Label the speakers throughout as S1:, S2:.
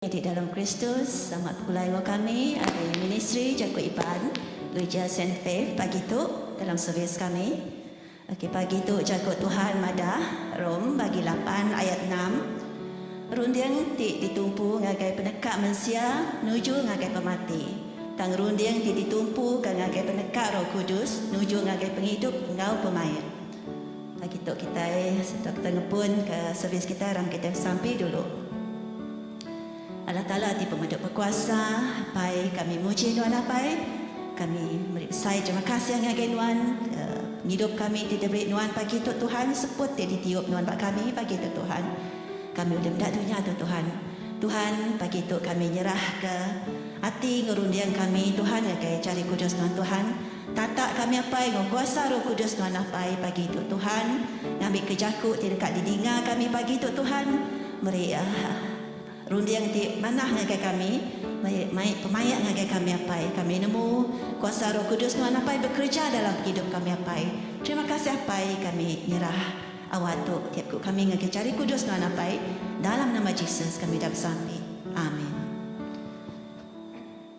S1: Di dalam Kristus amat pegulai enggau kami ari Ministri Jaku Iban Gereja Saint Faith pagi tu dalam servis kami. Okey, pagi tu Jaku Tuhan madah, Rom bagi lapan ayat enam, Runding ti ditumpu ngagai peneka mensia nuju ngagai pemati, tang runding ti ditumpuka ngagai peneka Roh Kudus nuju ngagai pengidup enggau pemaik. Pagi tu kitai sereta kitai ngebunka servis kitai rangka kitai besampi dulu. Allah Taala ti pemedok bekuasa apai kami muji nuan apai kami meri besai terima kasih ngagai nuan pengidup kami ti diberi nuan pagi tu Tuhan seput ti ditiup nuan ba kami pagi tu Tuhan kami ulih meda dunya tu Tuhan Tuhan pagi tu kami nyerah ke ati enggau runding kami Tuhan ngagai jari kudus nuan Tuhan tata kami apai enggau kuasa roh kudus nuan apai pagi tu Tuhan ngambi ke jaku ti deka didinga kami pagi tu Tuhan meri Runding ti manah ngagai kami, mai pemaik ngagai kami Apai. Kami nemu kuasa Roh Kudus nuan Apai bekereja dalam pengidup kami Apai. Terima kasih Apai kami nyerah awat tu tiap ku kami ngagai jari kudus nuan Apai dalam nama Jesus kami udah besampi. Amin.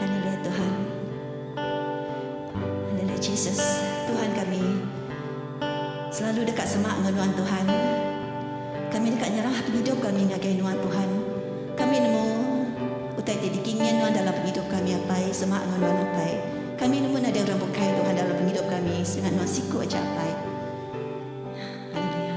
S1: Haleluya Tuhan. Haleluya Jesus. Tuhan kami selalu deka semak enggau nuan Tuhan. Kami deka nyerah pengidup kami ngagai nuan Tuhan. Kami nemu utai ti dikingin nuan dalam pengidup kami apai semak enggau nuan apai. Kami nemu nadai orang bukai Tuhan dalam pengidup kami sida nuan siku aja apai. Haleluya.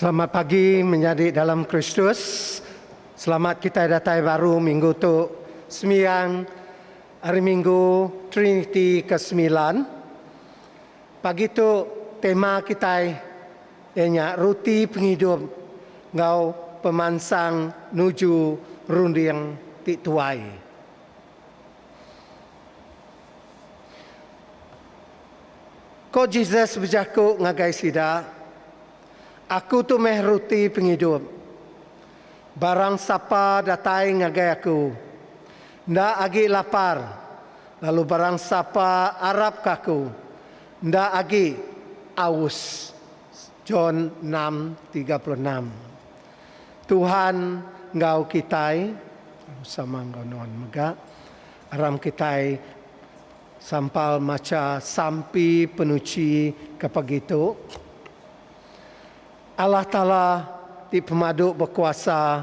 S2: Selamat pagi menyadi dalam Kristus. Selamat kita datai baru minggu tu sembiang hari minggu Triniti ke-9. Pagi tu tema kitai iya nya Ruti Pengidup enggau pemansang nuju runding ti tuai. Ko Jesus bejaku ngagai sida, Aku tu meh Ruti Pengidup. Barang sapa datai ngagai Aku, Enda agi lapar, lalu barang sapa arapka Aku, enda agi aus. John enam tiga puluh enam Tuhan enggau kitai, lalu sama enggau nuan mega, aram kitai sampal macha Sampi Penuchi ke pagi tu, Allah Taala ti pemadu bekuasa,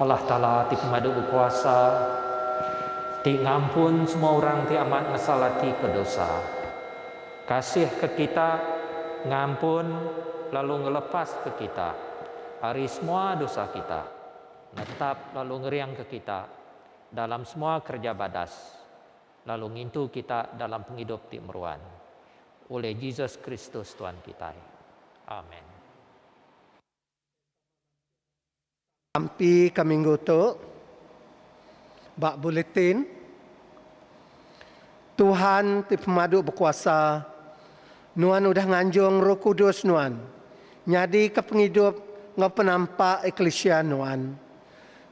S3: Allah Taala ti pemadu bekuasa, ti ngampun semua orang ti amat ngesal ati ke dosa, kasih ke kita, ngampun lalu ngelepas ke kita ari semua dosa kita, netap lalu ngering ke kita dalam semua kereja badas, lalu ngintu kita dalam pengidup ti meruan. Ulih Jesus Kristus Tuan kitai. Amen.
S2: Sampi ka minggu tu, ba Bulletin, Tuhan ti Pemadu Bekuasa, nuan udah nganjung Roh Kudus nuan nyadika pengidup enggau penampak eklisia nuan.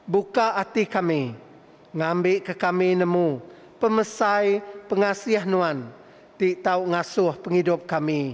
S2: Buka ati kami ngambika kami nemu pemesai pengasih nuan ti tau ngasuh pengidup kami.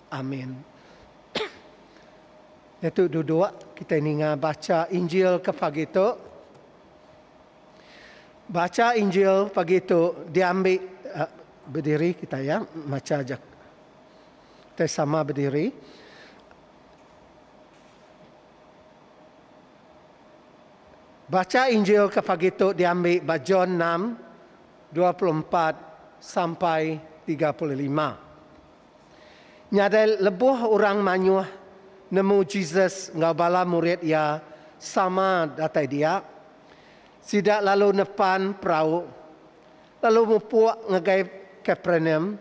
S2: Amin. Nyetu duduk, kitai ninga bacha Injil ke pagi tu. Bacha Injil pagi tu diambi eh, bediri kitai ya, macha aja. Kitai sama bediri. Bacha Injil ke pagi tu diambi ba John 6 24 sampai 35. Nyadai lebuh orang mayuh nemu Jesus enggau bala murid iya sama datai dia, sida lalu nepan perau lalu mupuk ngagai Kapernaum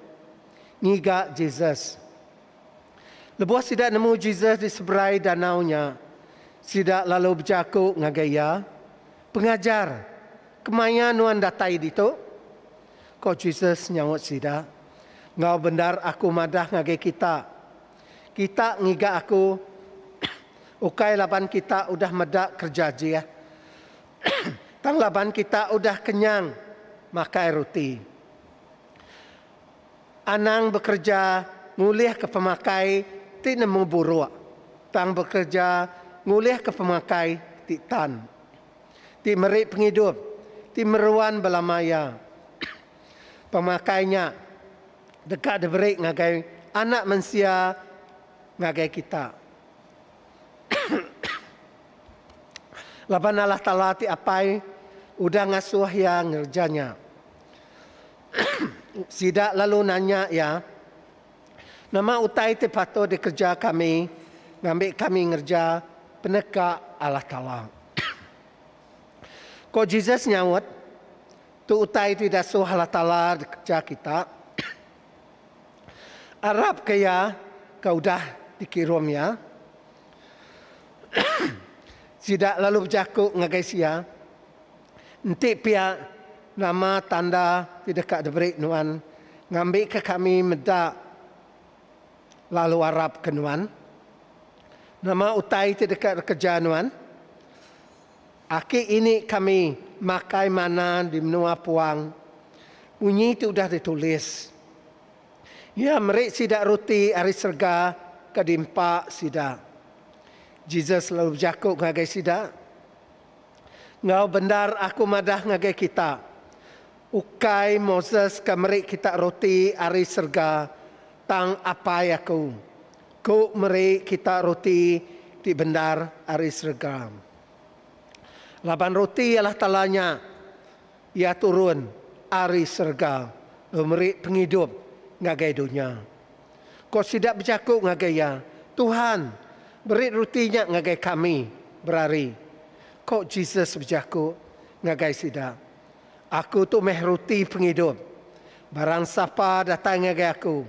S2: ngiga Jesus. Lebuh sida nemu Jesus di seberai danau nya, sida lalu bejaku ngagai iya, Pengajar, kemaya nuan datai ditu? Ko Jesus nyaut sida, Enggau bendar Aku madah ngagai kita, Kita ngiga Aku ukai laban kita udah meda kereja Jeh, tang laban kita udah kenyang makai ruti. Anang bekereja ngulihka pemakai ti nemu buruk, tang bekereja ngulihka pemakai ti tan. ti meri pengidup ti meruan belama iya. Pemakai nya deka diberi ngagai Anak Mensia ngagai kita. Laban Allah Taala ti Apai udah ngasuh iya ngereja nya. Sida lalu nanya iya. Nama utai ti patut dikereja kami ngambi kami ngereja peneka Allah Taala? Ko Jesus nyaut, Tu utai ti dasuh Allah Taala dikereja kita, arapka Iya ke udah dikirum Iya. Sida lalu bejaku ngagai Sia. Enti pia, nama tanda ti deka diberi nuan ngambika kami meda lalu arap ke nuan? Nama utai ti deka dikereja nuan? Aki ini kami makai manna di menua puang. Munyi ti udah ditulis. Iya meri sida ruti ari serega ke diempa sida. Jesus lalu bejaku ngagai sida. Enggau bendar aku madah ngagai kita, ukai Moses ke meri kita roti ari serega, tang Apai aku, ku meri kita roti ti bendar ari serega. Laban roti ialah tala nya. Iya turun ari serega meri pengidup ngagai dunya. Ko sida bejaku ngagai Iya, Tuhan, beri ruti nya ngagai kami berari. Ko Jesus bejaku ngagai sida, Aku tu meh ruti pengidup. Barang sapa datai ngagai Aku,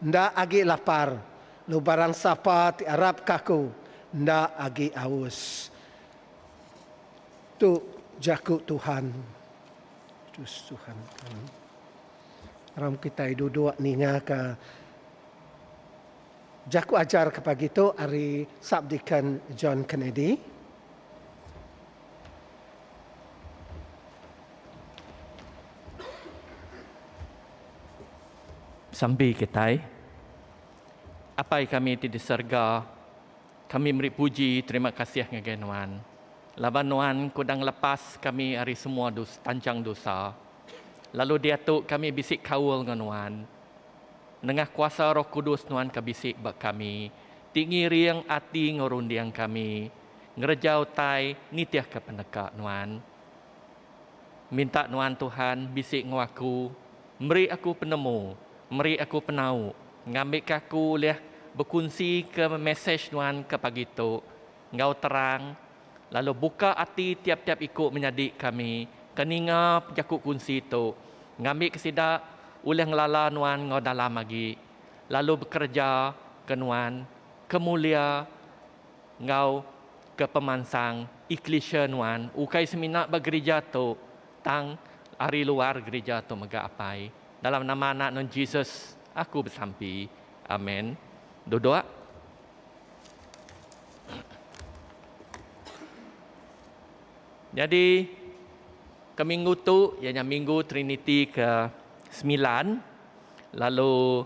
S2: enda agi lapar, lalu barang sapa ti arapka Aku, enda agi aus. Tu jaku Tuhan. Terus Tuhan kan. Ram kita duduk ninga ke jaku ajar ke pagi tu ari Subdeacon John Kennedy.
S4: Sambi kitai, Apai kami ti di serega. Kami meri puji terima kasih ngagai Nuan, laban Nuan kuda ngelepas kami ari semua dos tanchang dosa, lalu diatu kami bisi kaul enggau Nuan. Nengah kuasa Roh Kudus Nuan ka bisi ba kami, ti ngiring ati enggau runding kami, ngereja utai nitihka peneka Nuan. Minta nuan Tuhan bisi enggau aku, meri aku penemu, meri aku penau ngambika aku ulih bekunsika mesej nuan ke pagi tu enggau terang lalu buka ati tiap-tiap iku menyadi kami ke ninga pejaku kunsi tu ngambika sida ulih ngelala nuan enggau dalam agi lalu bekereja ke nuan ke mulia enggau ke pemansang eklisia nuan ukai semina ba gerija tu tang ari luar gerija tu mega apai dalam nama anak nuan Jesus aku besampi amen duduk. Nyadi ke minggu tu iya nya minggu triniti ke semilan lalu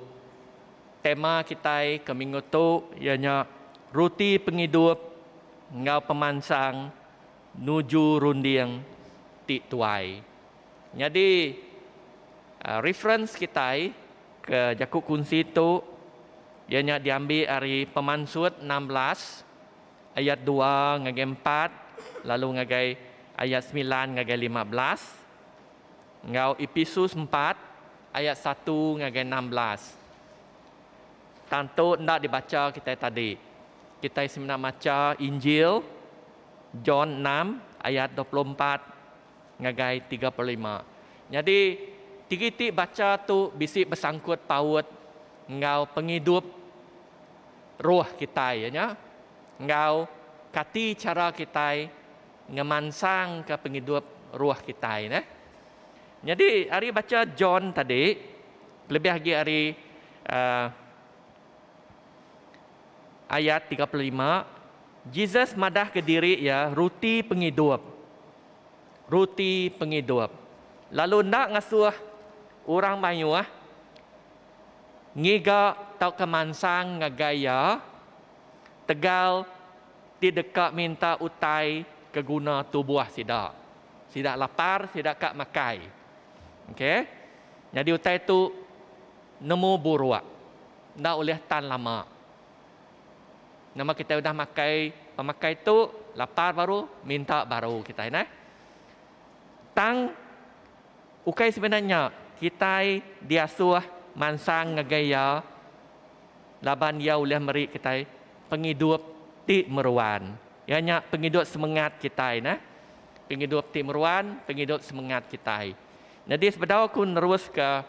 S4: Tema kitai ke minggu tu iya nya Ruti Pengidup enggau pemansang Nuju Runding ti Tuai. Nyadi reference kitai ke jaku kunsi tu iya nya diambi ari Pemansut enam belas ayat dua ngagai empat lalu ngagai ayat semilan ngagai lima belas. Enggau Episus empat ayat satu ngagai enam belas. Tantu enda dibacha kitai tadi. Kitai semina macha Injil John enam ayat dua puluh empat ngagai tiga puluh lima. Nyadi tigi ti bacha tu bisi besangkut paut enggau pengidup roh kitai iya nya enggau kati chara kitai ngemansangka pengidup roh kitai neh. Nyadi ari bacha John tadi kelebih agi ari uh, ayat 35 Jesus madah ke diri iya ruti pengidup. Ruti pengidup. Lalu enda ngasuh orang mayuh ngiga tauka mansang ngagai iya tegal ti deka minta utai ke guna tubuh sida. Sida lapar, sida ka makai. Okey. Nyadi utai tu nemu buruk. Enda ulih tan lama. Nama kitai udah makai pemakai tu, lapar baru minta baru kitai neh. Tang ukai semina nya kitai diasuh mansang ngagai iya. laban iya ulih meri kitai pengidup ti meruan. Iya nya pengidup semengat kitai nah. Pengidup ti meruan, pengidup semengat kitai. Nyadi sebedau aku neruska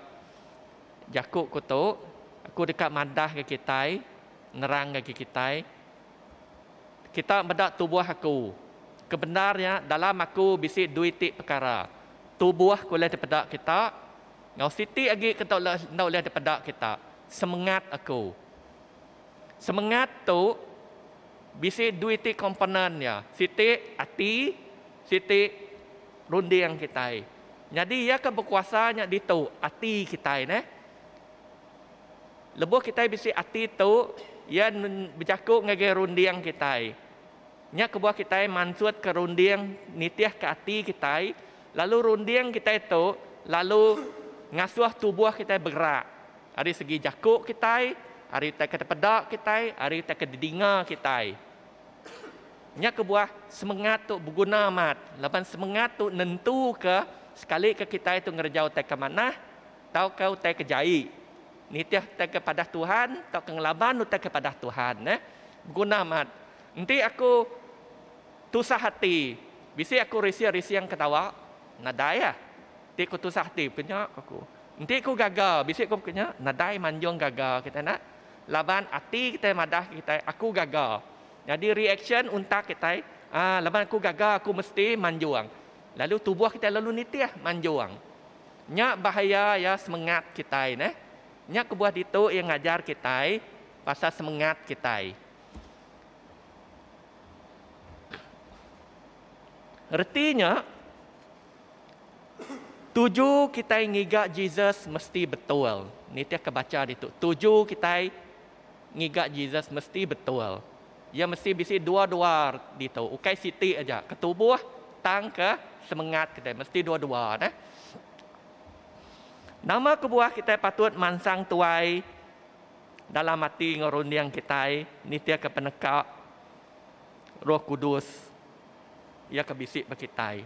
S4: jaku ku tu, aku deka madahka kitai, nerangka ke kitai, kita meda tubuh aku. Kebendar nya dalam aku bisi dui ti pekara. Tubuh ke ulih dipeda kita enggau siti agi ke enda ulih dipeda kita. semengat aku. Semengat tu bisi dua iti komponen iya, siti ati, siti runding kitai. Nyadi iya ke bekuasa nya ditu ati kitai neh. Lebuh kitai bisi ati tu, iya bejaku ngagai runding kitai. Nya kebuah kitai mansutka runding nitihka ati kitai lalu runding kitai tu lalu ngasuh tubuh kitai begerak ari segi jaku kitai, ari utai ke tepeda kitai, ari utai ke didinga kitai. Nya kebuah semengat tu beguna amat laban semengat tu nentuka sekalika kitai tu ngereja utai ke manah tauka utai ke jai, nitih utai ke padah Tuhan tauka ngelaban utai ke padah Tuhan. Beguna amat. Enti aku tusah ati, bisi aku rising-rising ke tawa? Nadai ah. Enti ku tusah ati, pekenya ku aku. Enti ku gaga, bisi ku pekenya? Nadai manjung gaga kitai nak. Laban ati kitai madah kitai, aku gaga. Nyadi reaksyen untak kitai, ah laban aku gaga aku mesti manjung. Lalu tubuh kitai lalu nitih manjung. Nya bahaya iya semengat kitai neh. Nya kebuah ditu iya ngajar kitai pasal semengat kitai. Reti nya, tuju kitai ngiga Jesus mesti betul. Nitihka bacha ditu. Tuju kitai ngiga Jesus mesti betul. Iya mesti bisi dua-dua ditu. Ukai siti aja. Ke tubuh tang ke semengat kitai. Mesti dua-dua. Nah. Nama kebuah kitai patut mansang tuai dalam ati enggau runding kitai nitihka peneka Roh Kudus iya ke bisi ba kitai.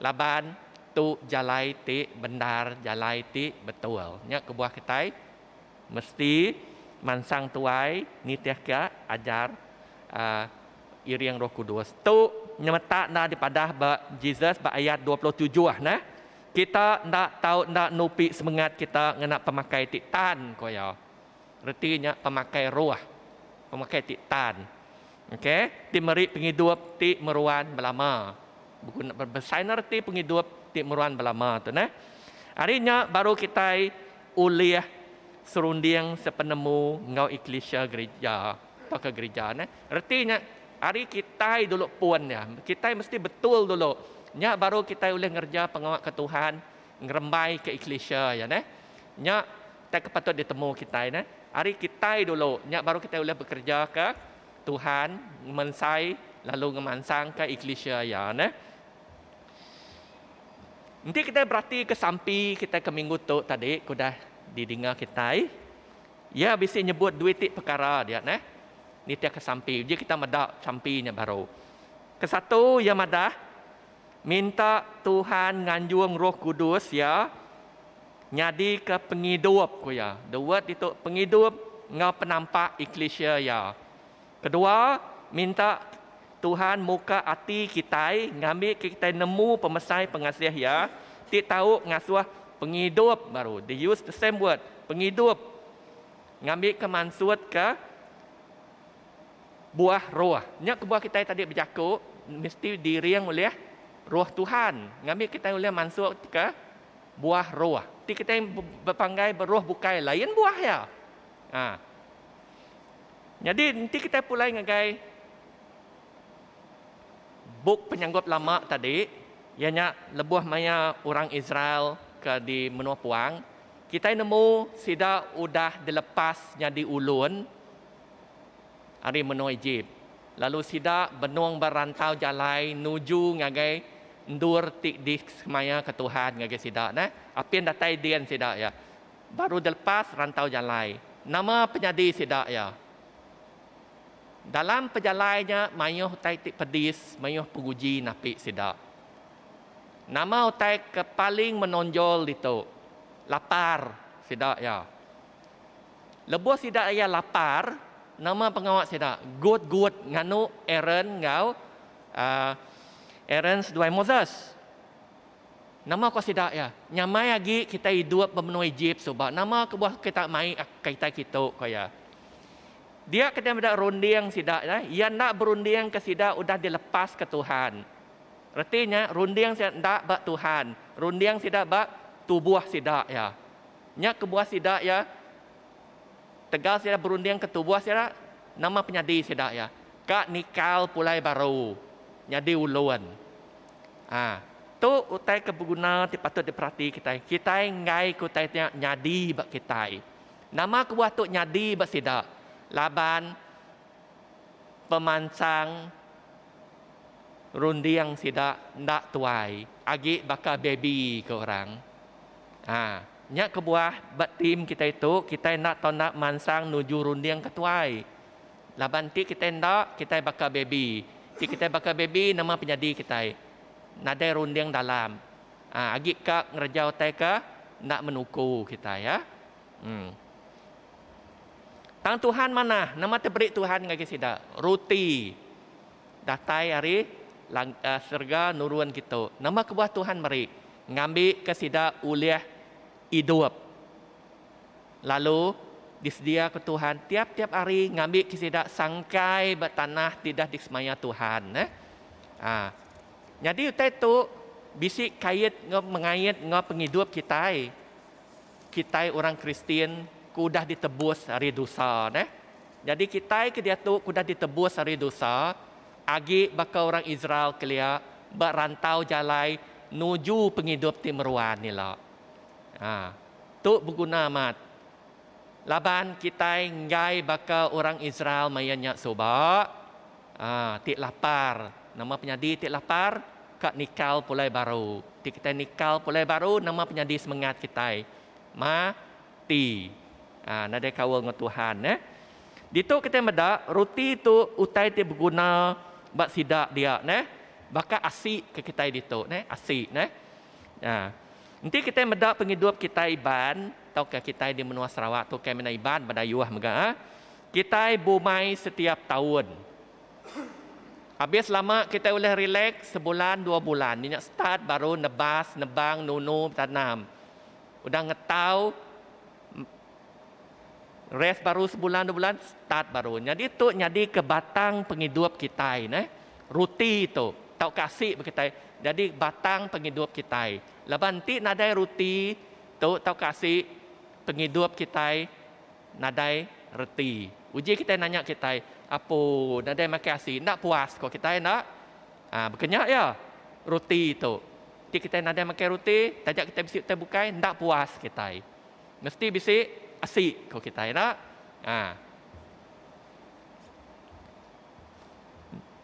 S4: Laban tu jalai ti bendar, jalai ti betul. Nya kebuah kitai mesti mansang tuai nitihka ajar aaa iring Roh Kudus. Tu nyemetak enda dipadah ba Jesus ba ayat dua puluh tujuh neh. Kita enda tau enda nupi semengat kita ngena pemakai ti tan, ku iya. Reti nya pemakai roh, pemakai ti tan. Ok, ti meri pengidup ti meruan belama. Beguna besainnya reti pengidup ti meruan belama tu neh. Ari nya baru kitai ulih serunding sepenemu enggau eklisia gerija. Baka gerija neh. Reti nya ari kitai dulu pun nya. Kitai mesti betul dulu. Nya baru kitai ulih ngereja pengawa ke Tuhan, ngerembai ke eklisia iya neh. Nya tai ke patut ditemu kitai neh. Ari kitai dulu nya baru kitai ulih bekereja ke Tuhan, ngemensai lalu ngemansangka eklisia iya neh. Enti kitai beratika sampi kitai ke minggu tu tadi ke udah didinga kitai. Iya bisi nyebut due ti pekara dia neh nitihka sampi uji kita meda sampi nya baru. Kesatu iya madah minta Tuhan nganjung Roh Kudus iya nyadika pengidup ku iya. Dua ditu pengidup enggau penampak eklisia iya. Kedua, minta Tuhan muka ati kitai ngambika kitai nemu pemesai pengasih Iya ti tau ngasuh pengidup baru. They use the same word, pengidup, ngambika mansutka buah roh. Nya kebuah kitai tadi bejaku mesti diring ulih Roh Tuhan ngambika kitai ulih mansutka buah roh. Ti kitai bepanggai beroh bukai lain buah iya. A. Nyadi enti kitai pulai ngagai bup Penyanggup Lama tadi iya nya lebuh maya orang Israel ke di menua puang kitai nemu sida udah dilepas nyadi ulun ari menua Ejip lalu sida benung ba rantau jalai nuju ngagai endur ti disemaya ke Tuhan ngagai sida neh apin datai din sida iya. Baru dilepas rantau jalai. Nama penyadi sida iya? Dalam pejalai nya mayuh utai ti pedis, mayuh penguji napi sida. Nama utai ke paling menonjol ditu? Lapar sida iya. Lebuh sida iya lapar, nama pengawa sida? Gut-gut nganu Aaron enggau Aaron seduai Moses. Nama ko sida iya? Nyamai agi kitai idup ba menua Ejip suba nama kebuah kita mai kitai kitu, ko iya. Dia kitai meda runding sida iya enda berunding ke sida udah dilepas ke Tuhan. Reti nya runding sida enda ba Tuhan, runding sida ba tubuh sida iya. Nya kebuah sida iya tegal sida berunding ke tubuh sida nama penyadi sida iya? Ka nikal pulai baru nyadi ulun. A. Tu utai ke beguna ti patut diperati kitai. Kitai enggai ke utai nya nyadi ba kitai. Nama kebuah tu nyadi ba sida? Laban pemansang runding sida enda tuai agi baka baby ke orang. A. Nya kebuah ba tim kitai tu, kitai enda tau enda mansang nuju runding ke tuai. Laban ti kitai enda, kitai baka baby. Ti kitai baka baby nama penyadi kitai? Nadai runding dalam. Aa agi ka ngereja utai ke enda menuku kitai ya. Em. Tang Tuhan manah, nama ti beri Tuhan ngagai sida? Ruti datai ari lang aa serega nurun kitu. Nama kebuah Tuhan meri? Ngambika sida ulih idup. Lalu, disediaka Tuhan tiap-tiap hari ngambika sida sangkai ba tanah ti dah disemaya Tuhan. Ha. Nyadi utai tu bisi kait enggau mengait enggau pengidup kitai. Kitai orang Kristian ke udah ditebus ari dosa. Nyadi kitai ke diatu ke udah ditebus ari dosa, agi baka orang Israel kelia ba rantau jalai nuju pengidup ti meruan ila. Ha. Tu beguna amat. Laban kitai enggai baka orang Israel maya nya suba, ha, ti lapar. Nama penyadi ti lapar? Ka nikal pulai baru. Ti kitai nikal pulai baru, nama penyadi semengat kitai? Mati. Ha, nadai kaul enggau Tuhan, neh. Ditu kitai meda ruti tu utai ti beguna ba sida dia, neh. Baka asi ke kitai ditu, neh. Asi, neh. Aa. Enti kitai meda pengidup kitai Iban tauka kitai di menua Sarawak tu kai mina Iban ba dayuh mega ah. Kitai bumai setiap taun. Abis lama kitai ulih relax sebulan dua bulan nya nya start baru nebas, nebang, nunu, betanam. Udah ngetau. Rest baru sebulan dua bulan start baru. Nyadi tu nyadi ke batang pengidup kitai neh. Ruti tu tauka asi bagi kitai nyadi batang pengidup kitai. Laban enti nadai ruti tu tauka asi pengidup kitai nadai reti. Uji kitai nanya kitai apo nadai makan asi enda puas ko kitai enda. Ah baka nya iya ruti tu. Enti kitai nadai makan ruti taja kitai bisi utai bukai enda puas kitai. Mesti bisi asi ko kitai enda. Ha.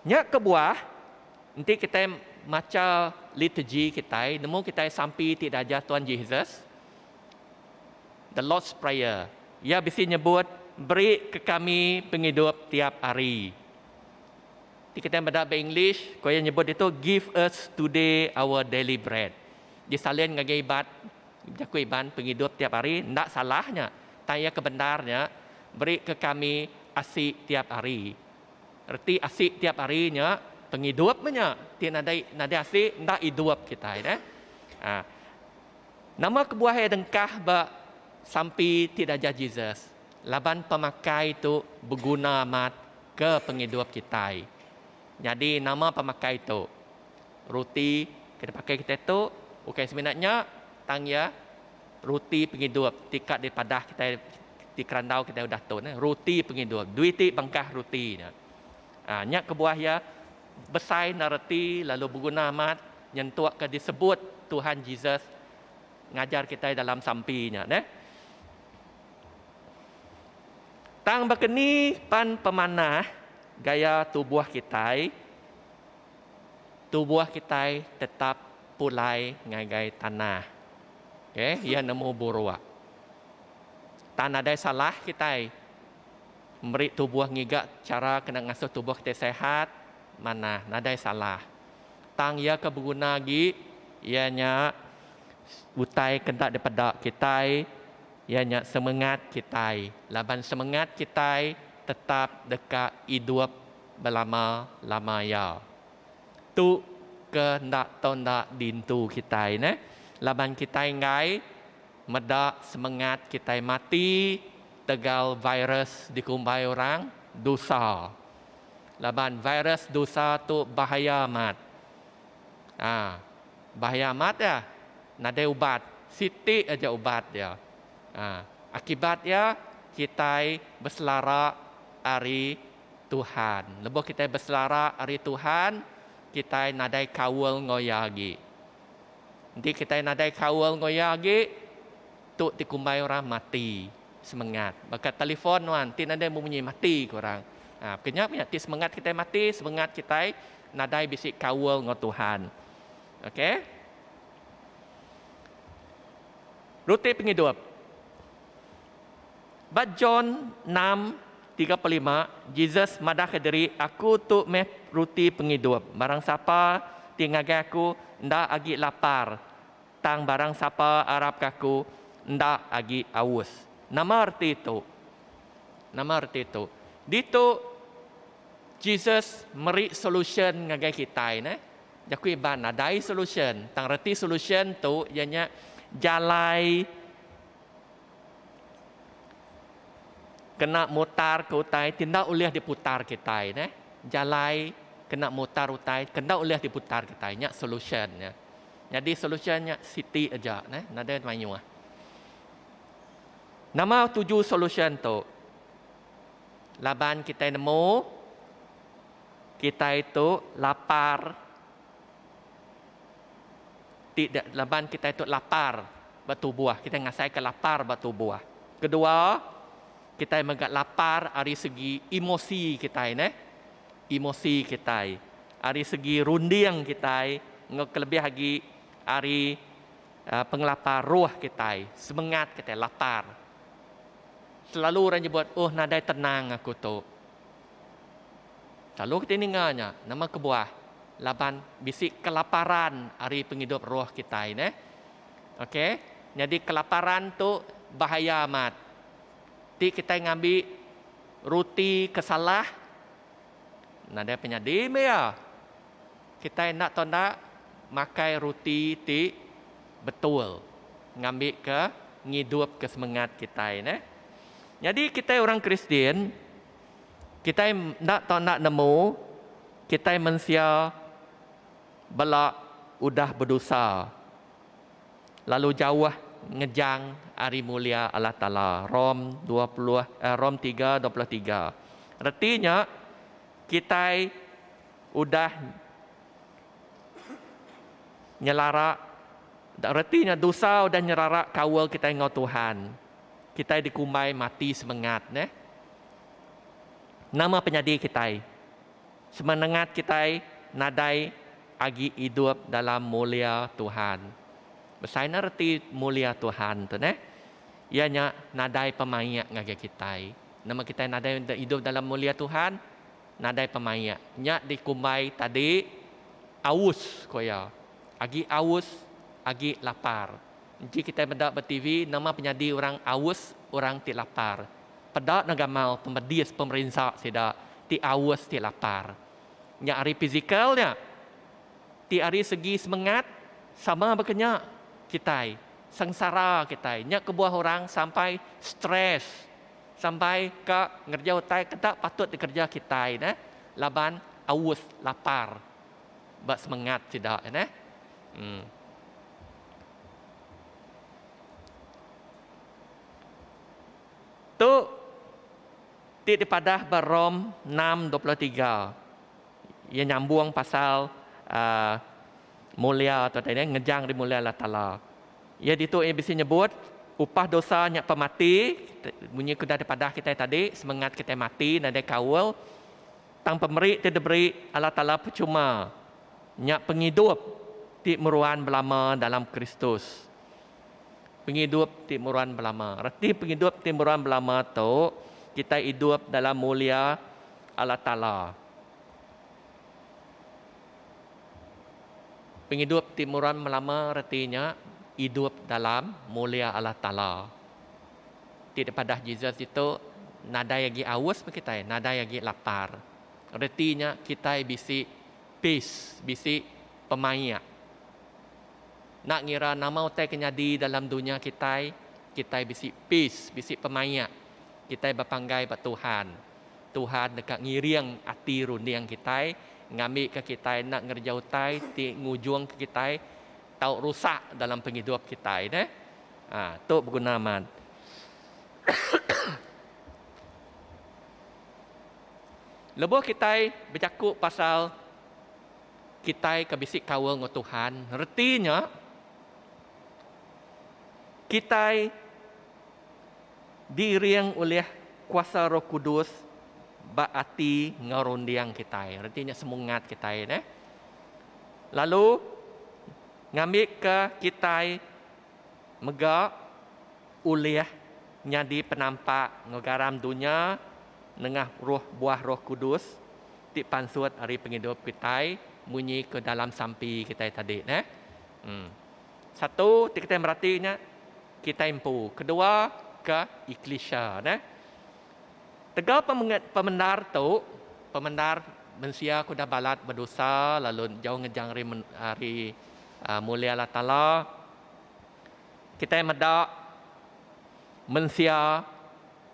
S4: Nya kebuah enti kitai macha litegi kitai nemu kitai sampi ti diajar Tuan Jesus The Lord's Prayer. Iya bisi nyebut beri ke kami pengidup tiap hari. Ti kitai meda ba English ko iya nyebut ditu give us today our daily bread. Disalin ngagai ibat Jaku Iban pengidup tiap hari enda salah nya, tang iya ke bendar nya berika kami asi tiap hari. Reti asi tiap hari nya pengidup meh nya, ti nadai nadai asi enda idup kitai deh. Aa Nama kebuah iya dengkah ba sampi ti diajar Jesus? Laban pemakai tu beguna amat ke pengidup kitai. Nyadi nama pemakai tu? Roti ke dipakai kitai tu ukai semina nya tang iya roti pengidup ti ka dipadah kitai ti kerandau kitai udah tu neh roti pengidup duih ti bengkah roti nya. Aa nya kebuah iya besai enda reti lalu beguna amat nyentuk ke disebut Tuhan Jesus ngajar kitai dalam sampi nya neh. Tang baka ni pan pemanah gaya tubuh kitai? tubuh kitai tetap pulai ngagai tanah. Okey, iya nemu buruak. Tang nadai salah kitai meri tubuh ngiga chara kena ngasuh tubuh kitai sihat manah, nadai salah. Tang iya ke beguna agi iya nya utai ke enda dipeda kitai iya nya semengat kitai laban semengat kitai tetap deka idup belama-lama iya. Tu ke enda tau enda dintu kitai neh laban kitai enggai meda semengat kitai mati tegal virus dikumbai orang dusa. Laban virus dusa tu bahaya amat. Ha bahaya amat iya nadai ubat, siti aja ubat dia. Ha akibat iya kitai beselara ari Tuhan. Lebuh kitai beselara ari Tuhan, kitai nadai kaul enggau Iya agi. Enti kitai nadai kaul enggau Iya agi, tu ti kumbai orang mati semengat. Baka telefon nuan, ti nadai bemunyi mati ke orang. Ha, bukan nya meh, ti semengat kitai mati, semengat kitai nadai bisi kaul enggau Tuhan. Okey. Ruti pengidup. Ba John enam tiga puluh lima, Jesus madahka diri, Aku tu meh ruti pengidup. Barang sapa ti ngagai Aku enda agi lapar, tang barang sapa arapka Aku enda agi aus. Nama reti tu? Nama reti tu? Ditu Jesus meri solusyen ngagai kitai neh. Jaku Iban nadai solusyen, tang reti solusyen tu iya nya jalai. Kena mutar ke utai ti enda ulih diputar kitai neh. Jalai kena mutar utai ke enda ulih diputar kitai nya solution nya. Nyadi solution nya siti aja neh nadai mayuh. Nama tuju solution tu? Laban kitai nemu kitai tu lapar. ti laban kitai tu lapar ba tubuh, kitai ngasaika lapar ba tubuh. Kedua, kitai mega lapar ari segi emosi kitai neh. Emosi kitai ari segi runding kitai enggau kelebih agi ari aaa pengelapar roh kitai, semengat kitai lapar. Selalu orang nyebut, oh nadai tenang aku tu. Kalu kiti ninga nya, nama kebuah? Laban bisi kelaparan ari pengidup roh kitai neh. Okay, nyadi kelaparan tu bahaya amat. Ti kitai ngambi ruti ke salah, nadai penyadi meh iya. Kitai enda tau enda makai ruti ti betul ngambika ngidupka semengat kitai neh. Nyadi kitai orang Kristian. Kitai enda tau enda nemu kitai mensia bela udah bedosa lalu jauh ngejang ari mulia Allah Taala. Rom dua puluh Rom tiga dua puluh tiga. Reti nya kitai udah nyelara reti nya dosa udah nyerara kaul kitai enggau Tuhan. kitai dikumbai mati semengat neh. Nama penyadi kitai? Semenengat kitai nadai agi idup dalam mulia Tuhan. Besai nya reti mulia Tuhan tu neh. Iya nya nadai pemaik ngagai kitai. Nama kitai nadai idup dalam mulia Tuhan? Nadai pemaik. Nya dikumbai tadi aus, ku iya. Agi aus, agi lapar. Enti kitai meda ba TV nama penyadi orang aus orang ti lapar. Peda enda gamal pemedis pemerinsa sida ti aus ti lapar. Nya ari pizikal nya. Ti ari segi semengat sama baka nya kitai sengsara kitai nya kebuah orang sampai stress sampai ka ngereja utai ke enda patut dikereja kitai neh laban aus lapar ba semengat sida neh. Em. Tu ti dipadah ba Rom enam dua puluh tiga. Iya nyambung pasal aaa mulia tu tadi eh ngejang dimulia Allah Taala. Iya ditu iya bisi nyebut upah dosa nya pemati, munyi ke udah dipadah kitai tadi semengat kitai mati nadai kaul. Tang pemeri ti diberi Allah Taala pechuma, nya pengidup ti meruan belama dalam Kristus. Pengidup ti meruan belama. Reti pengidup ti meruan belama tu, kitai idup dalam mulia Allah Taala. Pengidup ti meruan belama reti nya idup dalam mulia Allah Taala. Ti dipadah Jesus ditu, nadai agi aus meh kitai, nadai agi lapar. Reti nya kitai bisi peace, bisi pemaik. Enda ngira nama utai ke nyadi dalam dunya kitai, kitai bisi peace, bisi pemaik. Kitai bepanggai ba Tuhan. Tuhan deka ngiring ati runding kitai ngambika kitai enda ngereja utai ti ngujungka kitai tau rusak dalam pengidup kitai neh. Ha tu beguna amat. Lebuh kitai bejaku pasal kitai ke bisi kaul enggau Tuhan, reti nya kitai diiring ulih kuasa Roh Kudus ba ati enggau runding kitai. Reti nya semungat kitai neh. Lalu ngambika kitai mega ulih nyadi penampak enggau garam dunya nengah roh buah Roh Kudus ti pansut ari pengidup kitai munyi ke dalam sampi kitai tadi neh. Em. Satu ti kitai merati nya kitai empu, kedua ke eklisia neh. Tega pemendar tu, pemendar mensia ke udah balat bedosa lalu jauh ngejang ari Mulih Allah Taala. Kitai meda mensia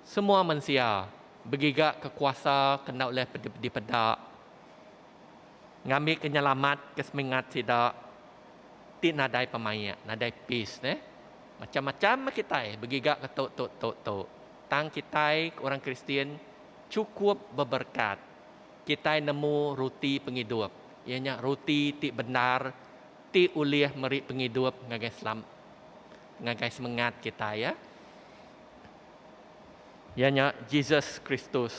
S4: semua mensia begiga ke kuasa ke enda ulih dipeda ngambi ke nyelamat ke semingat sida ti nadai pemaik nadai peace neh. Macam-macam meh kitai begiga ke tu tu tu tu. tang kitai orang Kristian chukup beberkat. Kitai nemu ruti pengidup, iya nya ruti ti bendar ti ulih meri pengidup ngagai selam ngagai semengat kitai iya. Iya nya Jesus Kristus.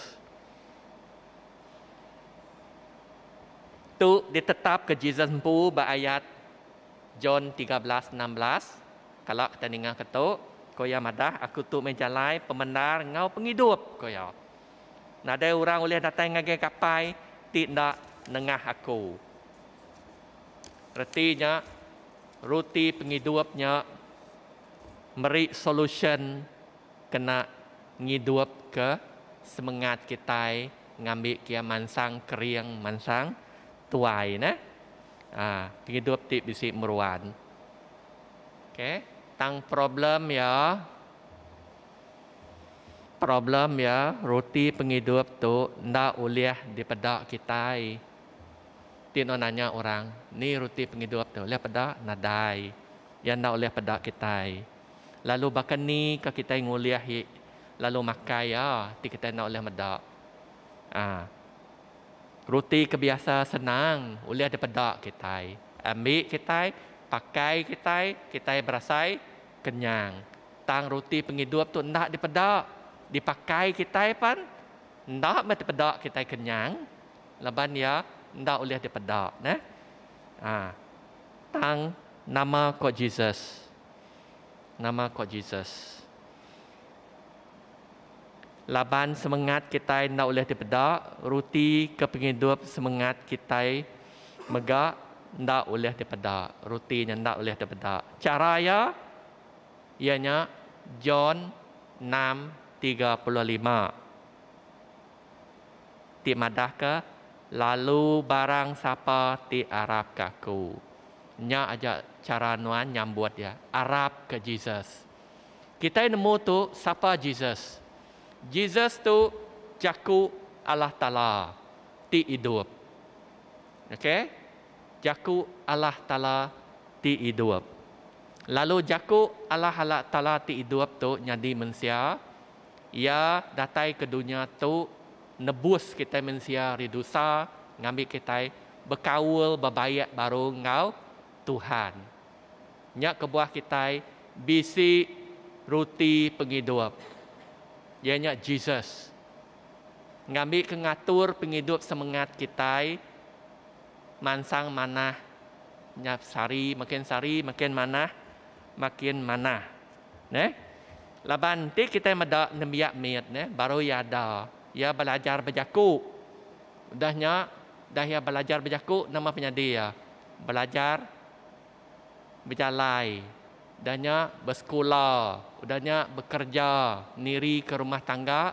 S4: Tu ditetapka Jesus empu ba ayat John tiga belas enam belas. Kala kitai ningaka tu, ko iya madah, Aku tu meh jalai, pemendar enggau pengidup, ko iya. Nadai orang ulih datai ngagai Kapai ti enda nengah Aku. Reti nya, Ruti Pengidup nya meri solusyen kena ngidupka semengat kitai ngambi kia mansang kering, mansang. Tuai neh. Aa pengidup ti bisi meruan. Ok tang problem ya problem ya reti pengidup tu enda ulih dipeda kitai. Ti no nanya orang ni reti pengidup tu ulih peda nadai ya enda ulih peda kitai. Lalu baka ni ka kitai ngulih ye lalu makai ya ti kitai enda ulih meda. Aa. Ruti ke biasa senang ulih dipeda kitai. Ambi kitai, pakai kitai, kitai berasai kenyang. Tang ruti pengidup tu enda dipeda, dipakai kitai pan enda meh dipeda kitai kenyang laban iya enda ulih dipeda neh. A Tang nama ko Jesus? Nama ko Jesus? Laban semengat kitai enda ulih dipeda, ruti ke pengidup semengat kitai mega enda ulih dipeda. Ruti nya enda ulih dipeda. Chara iya iya nya John 6:35 ti madahka lalu barang sapa ti arapka aku. Nya aja chara nuan nyambut iya, arapka Jesus. Kitai nemu tu sapa Jesus. Jesus tu Jaku Allah Taala ti idup. Okay. Jaku Allah Taala ti idup. Lalu Jaku Allah Ala Taala ti idup tu nyadi mensia. Iya datai ke dunya tu nebus kitai mensia ari dusa ngambi kitai bekaul bebaik baru enggau Tuhan. Nya kebuah kitai bisi ruti pengidup, iya nya Jesus, ngambika ngatur pengidup semengat kitai mansang manah nya sehari makin sehari makin manah makin manah. Neh. Laban enti kitai meda nembiak mit neh baru iya ada, iya belajar bejaku. Udah nya, udah iya belajar bejaku, nama penyadi iya? Belajar bejalai, udah nya besekula, udah nya bekerja nirika rumah tangga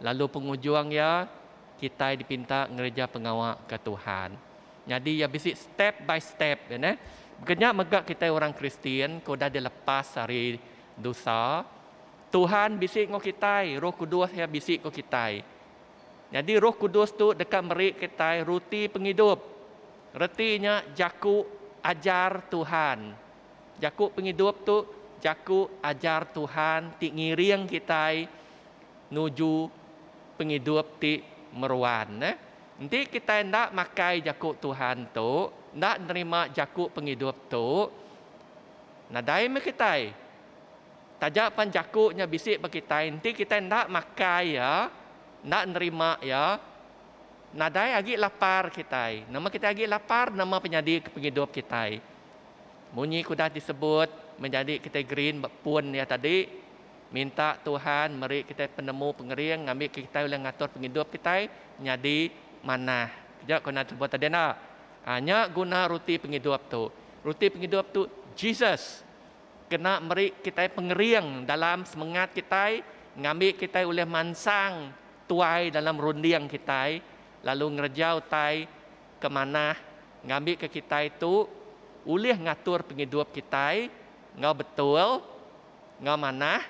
S4: lalu pengujung iya kitai dipinta ngereja pengawa ke Tuhan. Nyadi iya bisi step by step iya neh. Baka nya mega kitai orang Kristian ke udah dilepas ari dosa, Tuhan bisi enggau kitai, Roh Kudus iya bisi enggau kitai. Nyadi Roh Kudus tu deka meri kitai ruti pengidup. Reti nya jaku ajar Tuhan. Jaku pengidup tu jaku ajar Tuhan ti ngiring kitai nuju pengidup ti meruan. Enti kitai enda makai jaku Tuhan tu, enda nerima jaku pengidup tu, nadai meh kitai. Taja pan jaku nya bisi ba kitai enti kitai enda makai iya, enda nerima iya, nadai agi lapar kitai. Nama kitai agi lapar nama penyadi ke pengidup kitai. Munyi ke udah disebut meh nyadi kitai green ba pun iya tadi, minta Tuhan meri kitai penemu pengering ngambika kitai ulih ngatur pengidup kitai nyadi manah. Keja ku nadisebut tadi enda? Nya guna ruti pengidup tu. Ruti pengidup tu Jesus. kena meri kitai pengering dalam semengat kitai ngambi kitai ulih mansang tuai dalam runding kitai lalu ngereja utai ke manah ngambika kitai tu ulih ngatur pengidup kitai enggau betul enggau manah.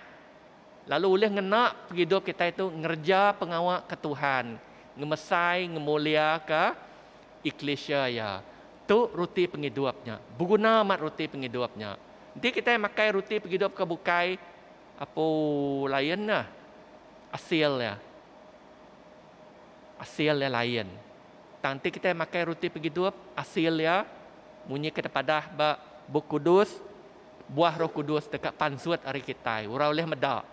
S4: Lalu ulih ngena pengidup kitai tu ngereja pengawa ke Tuhan, ngemesai ngemuliaka eklisia Iya. Tu ruti pengidup nya. Beguna amat ruti pengidup nya. Enti kitai makai ruti pengidup ke bukai, apu lain nya asil iya. Asil iya lain. Tang enti kitai makai ruti pengidup, asil iya munyi ke dipadah ba Bup Kudus, Buah Roh Kudus deka pansut ari kitai. Orang ulih meda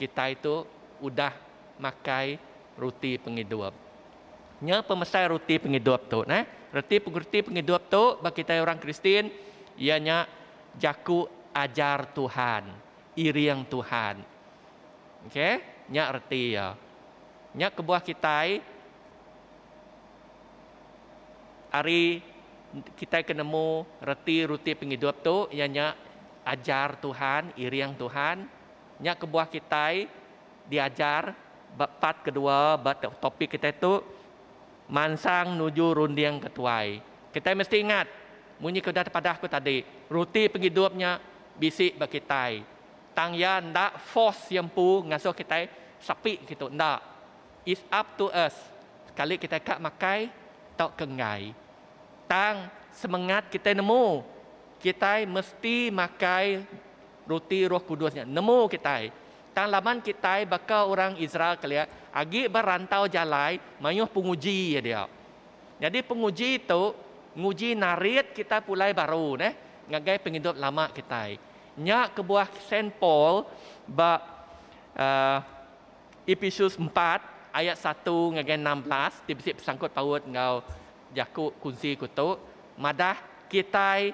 S4: kitai tu udah makai ruti pengidup. Nya pemesai ruti pengidup tu neh. Reti ruti pengidup tu ba kitai orang Kristian iya nya jaku ajar Tuhan, iring Tuhan. Okey, nya reti iya. Nya kebuah kitai. Ari kitai ke nemu reti ruti pengidup tu iya nya ajar Tuhan, iring Tuhan. Nya kebuah kitai diajar ba part kedua ba topik kitai tu mansang nuju runding ke tuai. Kitai mesti ingat munyi ke udah tepadah aku tadi, ruti pengidup nya bisi ba kitai. Tang iya enda force iya empu ngasuh kitai sapi kitu, enda. It's up to us sekali kitai ka makai tauka enggai. Tang semengat kitai nemu, kitai mesti makai ruti Roh Kudus nya nemu kitai. Tang laban kitai baka orang Israel kelia agi ba rantau jalai mayuh penguji iya dia. Nyadi penguji tu nguji narit kitai pulai baru neh ngagai pengidup lama kitai. Nya kebuah Saint Paul ba. Ephesus empat ayat satu ngagai enam belas ti bisi besangkut paut enggau jaku kunsi ku tu madah kitai